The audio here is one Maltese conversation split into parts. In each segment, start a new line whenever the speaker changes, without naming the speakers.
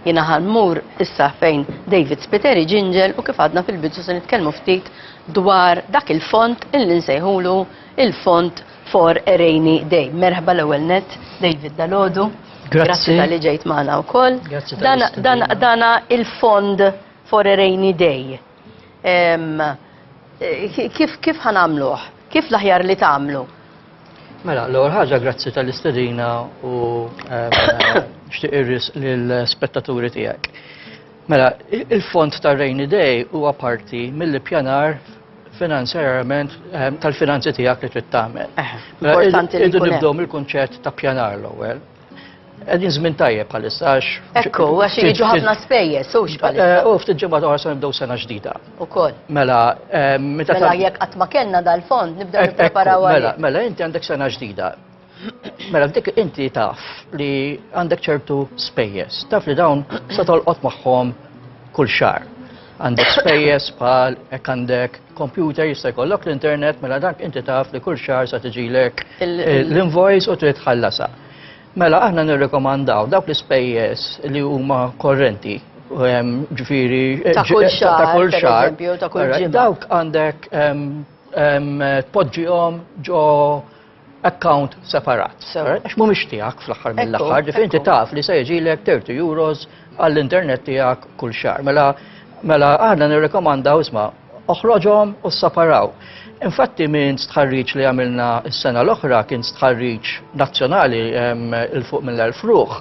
Jiena ħa mmur issa fejn David Spiteri ġinġel u kif għadna fil-bidu se nitkellmu ftit dwar dak il-fond illi nsejħulu il-fond for a rainy day. Merħba l-ewwel net, David Dalodu. Grazzi tal-li ġejt magħna wkoll. Dana il-fond for a rainy day. Eh, kif ħanamluħ? Kif l-aħjar li tagħmlu? Mela,
l-ewwel ħaġa grazzi tal-istedina u ehm, xtieq irris lill-spettaturi tiegħek. Mela, il-fond tar Rainy Day huwa parti mill-ippjanar finanzjarjament ehm, tal-finanzi tiegħek li trid tagħmel. Eh, mela, importanti
li nibdew mill-kunċett
ta' pjanar l-ewwel. Għedin żmien tajjeb bħalissa għax. Ekku, għax jiġu
ħafna spejjeż, sux bħalissa. Eh, u ftit ġimgħa oħra se nibdew
sena ġdida. Ukoll. Mela,
eh,
meta. Mela
jekk qatt ma kellna dal-fond nibdew nippreparaw Mela, mela inti għandek sena
ġdida. Mela dik inti taf li għandek ċertu spejjeż. Taf li dawn se tolqot magħhom kull xar. Għandek spejjeż bħal hekk għandek kompjuter jista' jkollok l-internet mela dak inti taf li kull xahar sa tiġilek l-invoice u trid tħallasha. Mela aħna nirrekomandaw dawk l-ispejjeż li huma korrenti ehm, ġifiri eh, ta' kull xahar ta' kull dawk għandek ehm, ehm, tpoġġihom ġo account separat. Għax mhumiex tiegħek fl-aħħar mill-aħħar, ġifieri inti taf li se jiġilek 30 euros għall-internet tiegħek kull xahar. Mela mela aħna nirrekomandaw isma' oħroġhom u ssaparaw. Infatti minn stħarriġ li għamilna s-sena l-oħra kien stħarriġ nazzjonali il-fuq mill-1000 ruħ,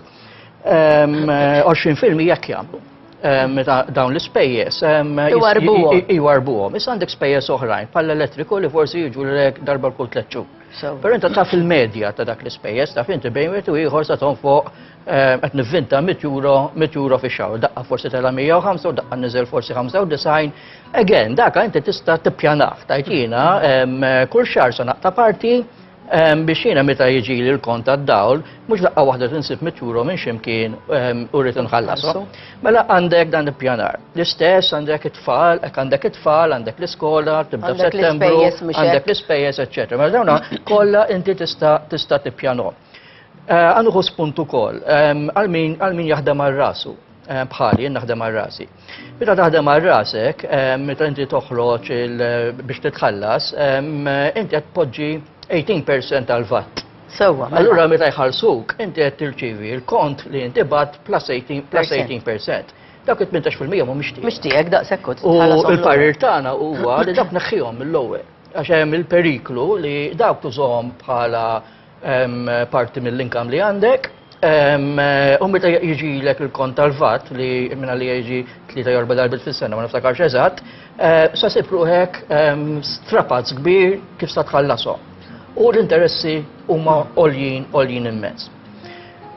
20% jekk jagħmlu. dawn l-ispejjeż. Iwarbuhom. Iwarbuhom. Issa għandek spejjeż oħrajn, pal elettriku li forsi jiġu l-ek darba l-kull tletxu. Pero inta taf il-medja ta' dak l-ispejjeż, taf inti bejn wieħed u ieħor sa ton fuq eh, qed nivvinta 100 euro, 100 euro fi xahar, daqqa forsi tela 105 u daqqa niżel forsi 95. Again, daka inti tista' tippjanah, tajtina, kull xahar sa naqta' parti Biex jiena meta jiġili l-kont tad-dawl, mhux daqqa waħda tinsib mitjuru minn ximkien u rrid inħallasu. Mela għandek dan il-pjanar. L-istess għandek it-tfal, hekk għandek it-tfal, għandek l-iskola, tibda f'Settembru, għandek l-ispejjeż, eċċetera. Mela dawna kollha inti tista' tista' tippjanhom. Għandu spuntu ukoll għal min jaħdem għal rasu bħali jien naħdem għal rasi. Meta taħdem għal rasek, meta inti toħroġ biex titħallas, inti qed tpoġġi 18% tal-vatt. Sewwa. Mela. Allura meta
jħallsuk,
inti qed tirċivi l-kont li inti bat plus 18%. Dak it-18% mhu mixtieq. Mixtieq daqshekk kont. U
l-parir
tagħna huwa li dak neħħihom mill-ewwel. Għax hemm il-periklu li dawk tużhom bħala parti mill-inkam li għandek. U meta jiġilek il-kont tal-vat li minna li jiġi tlieta jorba darbit fis-sena ma niftakarx eżatt, eh, sa sib ruħek strapazz kbir kif sa tħallasom. U l-interessi huma għoljin għoljin immens.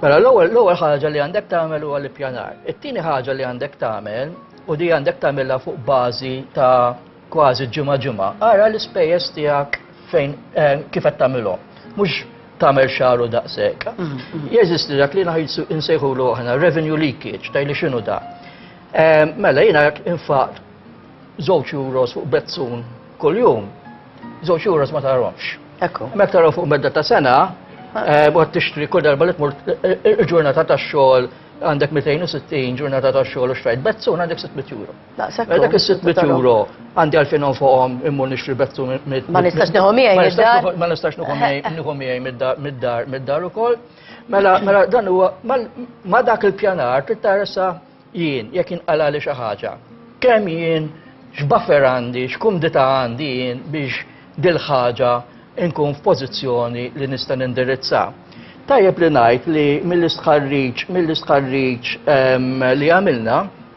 Mela l-ewwel l-ewwel ħaġa li għandek tagħmel huwa l-ippjanar. It-tieni ħaġa li għandek tagħmel u di għandek tagħmilha fuq bażi ta' kważi ġimgħa ġimgħa, ara l-ispejjeż tiegħek fejn eh, kif qed tagħmilhom. Mhux tagħmel xaru daqshekk. Mm, mm. Jeżisti dak li naħisu insejħulu aħna revenue leakage, tajli x'inhu da. Eh, mela jiena jekk infaq żewġ euros fuq bezzun kuljum, żewġ euros ma taromx. Ekku. Mek taraw fuq medda ta' sena, eh, għad tixtri kull darba li tmur il-ġurnata ta' xogħol għandek 260 ġurnata ta' xogħol u xtrajt bezzun għandek 600 euro. Daqshekk. Mela dak is-600 għandi għalfejn nonfoqhom immur nixtri bettu mid Ma nistax nieħu
miegħi mid-dar. Ma nistax nieħu
miegħi mid-dar mid-dar ukoll. Mela mela dan huwa ma dak il-pjanar trid tarsa jien jekk inqala li xi ħaġa. Kemm jien x'buffer għandi, x'kumdita għandi jien biex dil-ħaġa nkun f'pożizzjoni li nista' nindirizza. Tajjeb li ngħid li mill-istħarriġ mill-istħarriġ ehm, li għamilna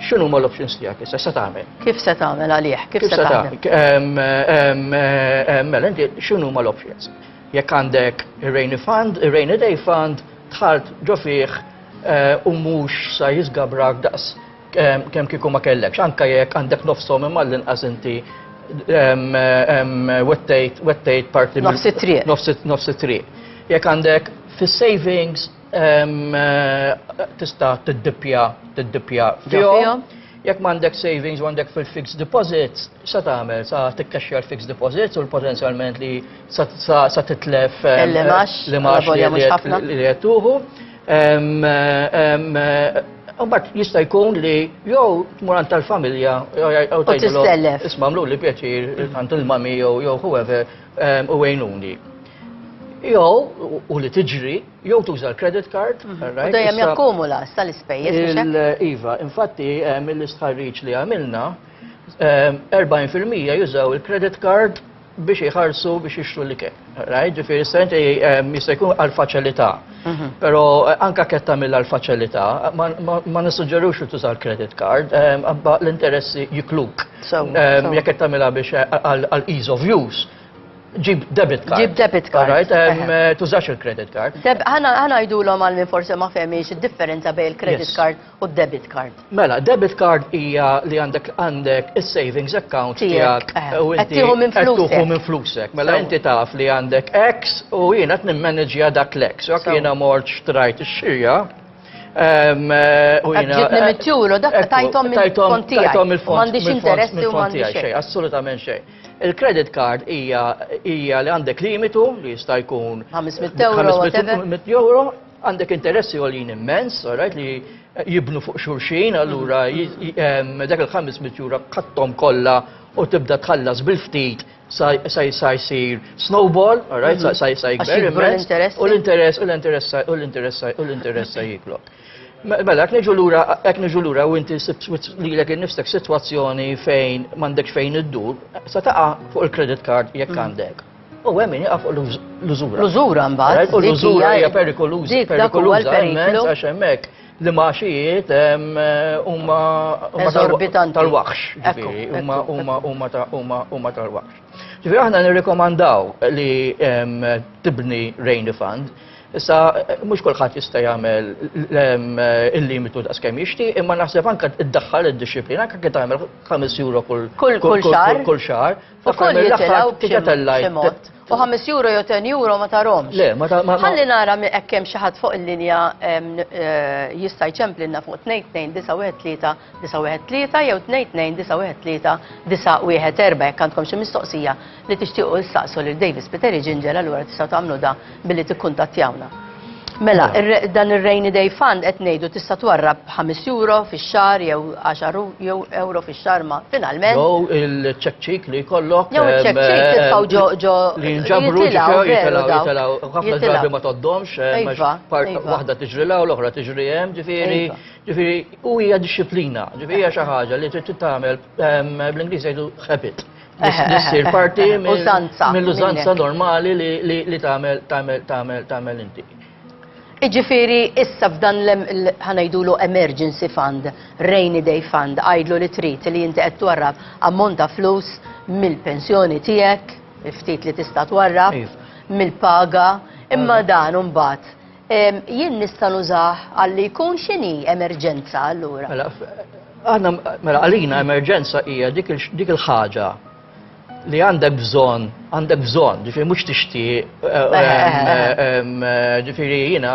X'inhuma l-options tiegħek issa se tagħmel? Kif se tagħmel għalih?
Kif se tagħmel?
Mela inti x'inhuma l-options? Jekk għandek ir-rainy fund, ir-rainy day fund, tħalt ġo fih eh, u mhux sa jiżgabrak daqs eh, kemm kieku ma kellekx, anka jekk għandek nofsom imma l-inqas inti wettejt parti nofsi triq.
Nofsi triq.
Jekk għandek fis-savings tista' tiddippja tiddippja fihom. Jekk
m'għandek
savings u għandek fil-fixed deposits, sa tagħmel sa tikkaxxja l-fixed deposits u l-potenzjalment li sa titlef l-imax
li
qed
tuħu.
Mbagħad jista' jkun li jew tmur għand tal-familja jew tgħidilhom isma' mlu li
pjaċir
għand il-mami jew whoever u għinuni. Jew u li tiġri jew tuża l-credit card. Mhm. U dejjem
jakkumula sa l-ispejjeż biex hekk. Iva, infatti
hemm eh, l-istħarriġ li għamilna 40% eh, jużaw il-credit card biex iħarsu biex jixtru li kien. Right? Ġifiri, senti eh, jista' jkun għal-faċilità. Mhm. Pero anka ketta mill għal-faċilità, ma nissuġġerux li tuża l-credit card, għabba l-interessi jikluk. Jekk ketta mill biex għal-ease of use. Ġib debit card. Ġib debit card. Alright,
um, eh, tużax
il-credit card. Ħana ngħidulhom
għal minn forsi ma fehmiex id-differenza bejn il-credit card u d-debit
card.
Mela, debit card
hija li għandek għandek is-savings account tiegħek
eh, u
inti
qed minn flusek. Mela
inti taf li għandek X u jiena qed nimmaneġja dak l-X. Jekk jiena mort xtrajt ix-xirja, ehm, eh, u
jina. Ġibni mit-tjuru, dak tajtom il-fontijaj. Tajtom il-fontijaj. Mandiċ
interessi u
mandiċ xej. Assolutament xej.
Il-credit card hija hija li għandek limitu li jista' jkun 500 euro,
whatever. 500 euro,
għandek interessi għolin immens, alright, li jibnu fuq xurxin, allura j- em, dak il-500 euro kattom kollha u tibda tħallas bil-ftit sa sa sa jsir snowball, alright, sa sa sa Għax jikber jikbru immens, l-interessi. u l-interess u l-interess sa- u l-interess sa- u l-interess sa jiklok. Mela, jekk niġu lura, jekk niġu lura u inti lilek innifsek sitwazzjoni fejn m'għandekx fejn iddur, se taqa' fuq il-credit card jekk mm. għandek. U hemm min jaqa' fuq l-użura. L-użura mbagħad.
U l-użura hija
perikoluża, perikoluża
għax hemmhekk
li maxijiet huma
tal-waħx.
Huma tal-waħx. Ġifieri aħna nirrikomandaw li tibni rain fund Issa, mhux kulħadd jista' jagħmel il-limitu daqs kemm jixtieq, imma naħseb anke iddaħħal id-dixxiplina anke kien tagħmel 5 euro kull kull xahar. Kull xahar. Ukoll jitilgħu
b'xi mod. U 5 euro jew 10 euro ma tarhomx. Le, ma tarhomx. Ħalli
nara hekk
hemm xi ħadd fuq il-linja eh, jista' jċemplilna fuq 2 2 9 1 3 913 jew 22 913 914 jekk għandkom xi mistoqsija li tixtiequ issaqsu lil Davis Spiteri Ginger allura tistgħu tagħmlu da billi tikkuntattjawna. Mela, dan ir-Rainy Day Fund qed ngħidu tista' twarrab b'ħames euro fix-xahar jew għaxar jew euro fix-xahar ma finalment. Jew il-check
cheek li jkollok. Jew il-check cheek titfgħu
ġo ġo. Li jinġabru
jitilgħu jitilgħu. Ħafna drabi ma tgħoddhomx. Iva. Waħda tiġri l-oħra tiġri hemm ġifieri. Ġifieri, u hija dixxiplina, ġifieri hija xi ħaġa li trid titgħamel bl-Ingliż jgħidu habit. Issir parti mill-użanza normali li tagħmel tagħmel tagħmel tagħmel inti. Iġifiri,
issa f'dan l-ħanajdulu emergency fund, rainy day fund, għajdlu li trit li jinti qed twarrab ammont ta' flus mill-pensjoni tiegħek, il-ftit li tista' twarrab, mill-paga, imma dan mbagħad Jien nista' nużah għalli jkun x'inhi emerġenza allura? Mela, aħna
mela għalina emerġenza hija dik il-ħaġa li għandek bżon, għandek bżon, ġifiri mux tixti, eh, eh, eh, ġifiri jina,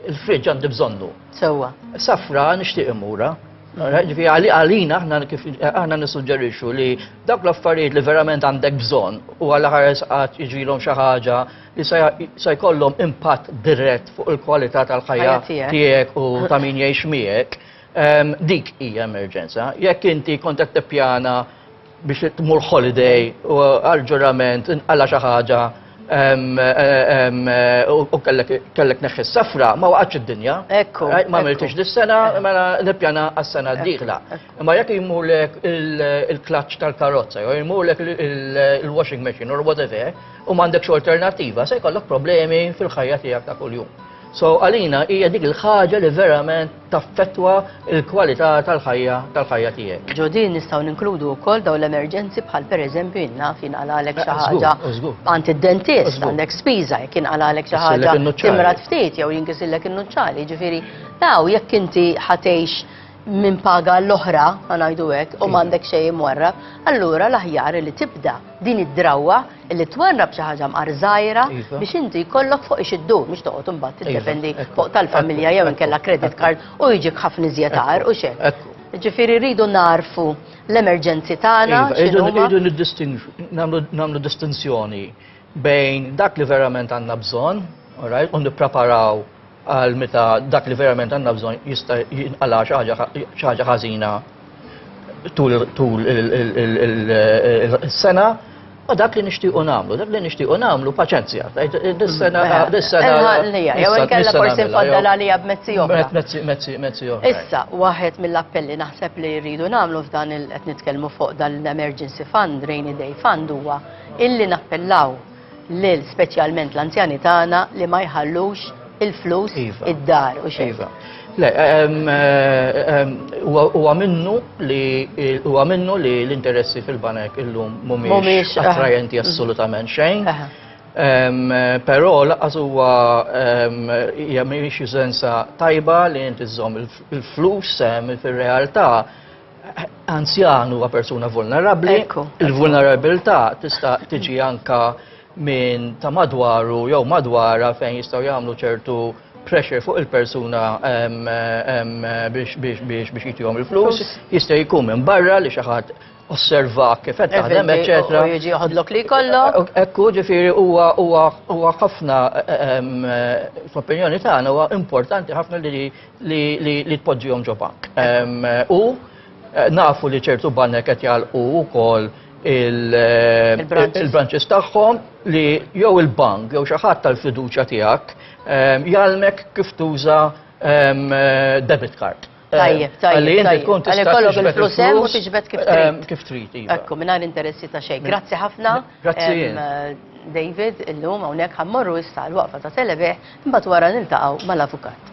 il-fridġ għandi bżonnu. Sewa.
Safra nishtiq
imura. Ġifiri għalina aħna nissuġġerixu li dak l-affarijiet li verament għandek bżon u għal ħares għat iġilom xaħġa li se jkollhom impatt dirett fuq il-kwalità tal-ħajja tiegħek u ta' min jgħix miegħek, ehm, dik hija emerġenza. Jekk inti kont qed tippjana biex tmur holiday u għal-ġurament inqala xi ħaġa ehm, ehm, u kellek neħħi safra ma waqgħatx id-dinja. Ekku. Eh, ma miltix
dis-sena
mela nippjana għas-sena d-dieħla. Imma jekk jmurlek il-klaċċ tal-karozza jew jmurlek il-washing machine or whatever, u m'għandekx alternattiva, se jkollok problemi fil-ħajja tiegħek ta' kuljum. So għalina hija dik il-ħaġa li verament taffettwa il-kwalità tal-ħajja tal-ħajja tiegħek. Ġo din nistgħu ninkludu
wkoll dawn l-emerġenzi bħal pereżempju inna fin għalek xi eh, ħaġa għand id-dentist għandek spiża jekk inqalalek xi ħaġa timrat ftit jew jinkisillek in-nuċċali, ġifieri daw jekk inti ħatejx minn paga l-oħra, għanajdu għek, u mandek mm. xej imwarra, allura l-aħjar li tibda din id-drawa li twarrab xi ħaġa mqar żgħira iva. biex inti jkollok fuq ix iddu biex toqgħod imbagħad iva. tiddependi fuq tal-familja jew inkella credit card u jiġik ħafna iżjed u xejn. Ġifieri rridu narfu l-emerġenzi tagħna. Iva, rridu
nagħmlu distinzjoni bejn dak li verament għandna bżonn, u nippreparaw għal meta dak li verament għandna bżonn jista' jinqala' xi ħaġa ħażina tul is-sena Ma dak li nixtiequ nagħmlu, dak li nixtiequ nagħmlu paċenzja. Dis-sena dis-sena. Jew inkella
forsi nfaddal għalija b'mezzi oħra. Mezzi mezzi oħra.
Issa, waħed
mill-appelli naħseb li jridu nagħmlu f'dan il qed nitkellmu fuq dan l-emergency fund, rainy day fund huwa illi nappellaw lil speċjalment l-anzjani tagħna li ma jħallux il-flus iva. id-dar u xejn. Iva. Le,
huwa minnu li huwa minnu li l-interessi fil-banek illum mhumiex eh. attrajenti assolutament xejn. Eh. Però laqas huwa hija mhix sensa tajba li inti żżomm il-flus fir-realtà Anzjan huwa persuna vulnerabbli, il-vulnerabilità tista' tiġi anka minn ta' madwaru jew madwara fejn jistgħu jagħmlu ċertu pressure fuq il-persuna biex jitihom il-flus, jista' jkun minn barra li xi ħadd osserva kif qed taħdem, eċetera. U jiġi joħodlok li
jkollok. Ekku ġifieri
huwa huwa ħafna fl-opinjoni tagħna huwa importanti ħafna li li tpoġġihom ġo bank. U nafu li ċertu banek qed jgħalqu wkoll il-branches tagħhom li jew il-bank jew xi ħadd tal-fiduċja tiegħek jgħallmek kif tuża debit card. Tajjeb, tajjeb. Li
inti tkun tista' tiġbed flus kif trid. Kif trid.
Iva. Ekku, mingħajr interessi
ta' xejn. Grazzi ħafna. Grazzi jien. David, illum hawnhekk ħa mmorru issa għall-waqfa ta' Selebeħ imbagħad wara niltaqgħu mal-Avukat.